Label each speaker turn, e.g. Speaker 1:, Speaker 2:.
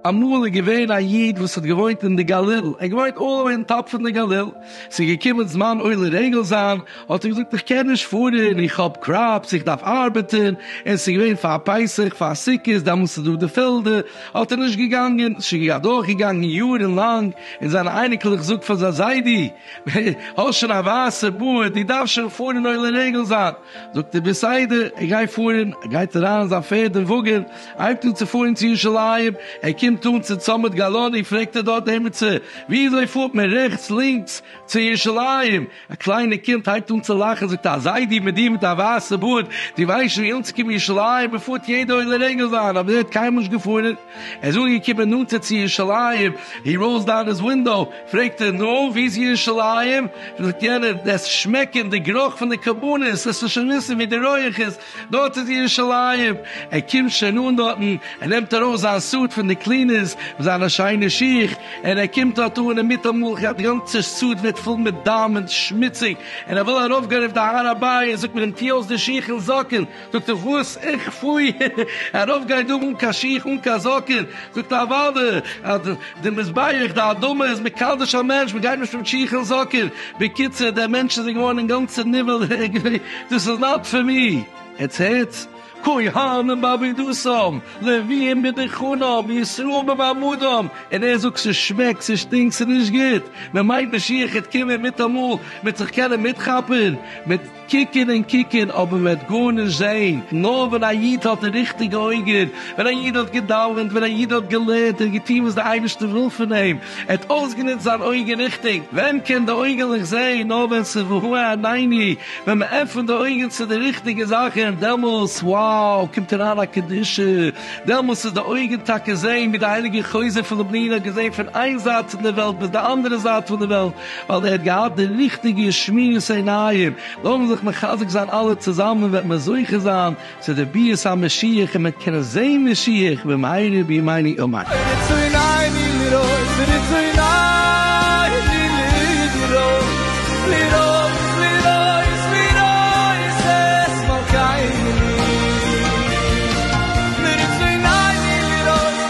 Speaker 1: אמאל איז געווען א איד וואס האט געוואוינט אין די גליל, ער האט געוואוינט אלל אווער אין טאפ פון די גליל, ס'איז געקומען זמן עולה רגל זיין, האט ער געזאגט איך קען נישט פארן איך האב קראפס איך דארף ארבעטן, און ס'איז געווען פאר פסח פאר סוכות דעמאלטס איז דא די פעלדער, האט ער נישט געגאנגען, ס'איז שוין אדורך געגאנגען יארן לאנג, און זיינע אייניקלעך זאגט פאר זיין זיידי. האסט שוין א ווייסע בארד, דו דארפסט שוין פארן אין עולה רגל זיין. זאגט ער בסדר, ער גייט פארן, ער גייט אריין אין זיין פערד און וואגען, הייבט אן צו פארן צו ירושלים, ער קומט אן צום צומת גלני, פרעגט ער דארט עימיצער, וויאזוי פארט מען רעכטס לינקס צו ירושלים? א קליינער קינד הייבט אן צו לאכן, זאגט ער, א זיידי מיט דיר מיט א ווייסע בארד, דו ווייסט שוין ווי אנצוקומען ירושלים, מען פארט יעדע עולה רגל זיין, אבער ער האט קיינמאל נישט געפארן. ער איז אנגעקומען נאנטער צו ירושלים, הי ראולס דאון היז ווינדאו, פרעגט ער, נו, ווי איז ירושלים? זאגט יענער, דאס שמעקען, די גערוך פון די קרבנות, לאסט עס שוין וויסן ווי די רויעך איז, דארט איז ירושלים, ער קומט שוין אן דארטן, ער נעמט ארויס זיין סוט פון די קלינערס, מיט זיינע שיינע שיך, און ער קומט דארט אן, און מיטאמאל די גאנצע סוט ווערט פול מיט דם און שמוציג, און ער וויל ארויפגיין אויף די הר הבית, זאגט מען אים, טו אויס די שיך און זאקן. זאגט ער וואס? איך פוי ארויף גיי דא אן קיין שיך אן קיין זאקען, זאגט א ווייב אז די מזבח די אדמה איז מקדש א מענטש מען גייט נישט מיט שיך און זאקען, בקיצור דער מענטש איז געווארן אינגאנצען נבהל דאס איז נאט פאר מי, עטס הערטס? כהנים בעבידותם, לוויים בדחנם, ישראל במעמדם, און ער זאגט ס'שמעקט ס'שטינקט ס'נישט גוט, מען מיינט משיח העט קומען מיטאמאל מיט זיך קענען מיטכאפען מיט. קוקן און קוקן, אָבער מען וועט גאָרנישט זען. נאָר ווען אַ ייִד האָט די ריכטיקע אויגן, ווען אַ ייִד האָט געדאַוונט, ווען אַ ייִד האָט געלערנט און געטאָן וואָס דער אייבערשטער וויל פֿון אים, ער האָט אויסגענוצט זײַן אויגן ריכטיק, ווען קען די אויגעלעך זען? נאָר ווען ס'איז והוה עניני, ווען מע עפֿנט די אויגן צו די ריכטיקע זאַכן, דעמאָלט, wow, קומט אַרײַן אַ קדושה. דעמאָלט איז די אויגן טאַקע זען, ווי דער הייליגער חוזה פֿון לובלין האָט געזען פֿון איין זײַט פֿון דער וועלט ביז דער אַנדערער זײַט פֿון דער וועלט, ווייל ער האט געהאט די ריכטיגע שמועס עיניים, לאמיר זיך מחזק זיין אלע צוזאמען וועט מען זוכה זיין צו די ביאת המשיח און מען קען זען משיח במהרה בימינו אמן. רצון עיני לראות, רצון עיני לראות, לראות, לראות, לראות את מלכי עיני. רצון עיני לראות.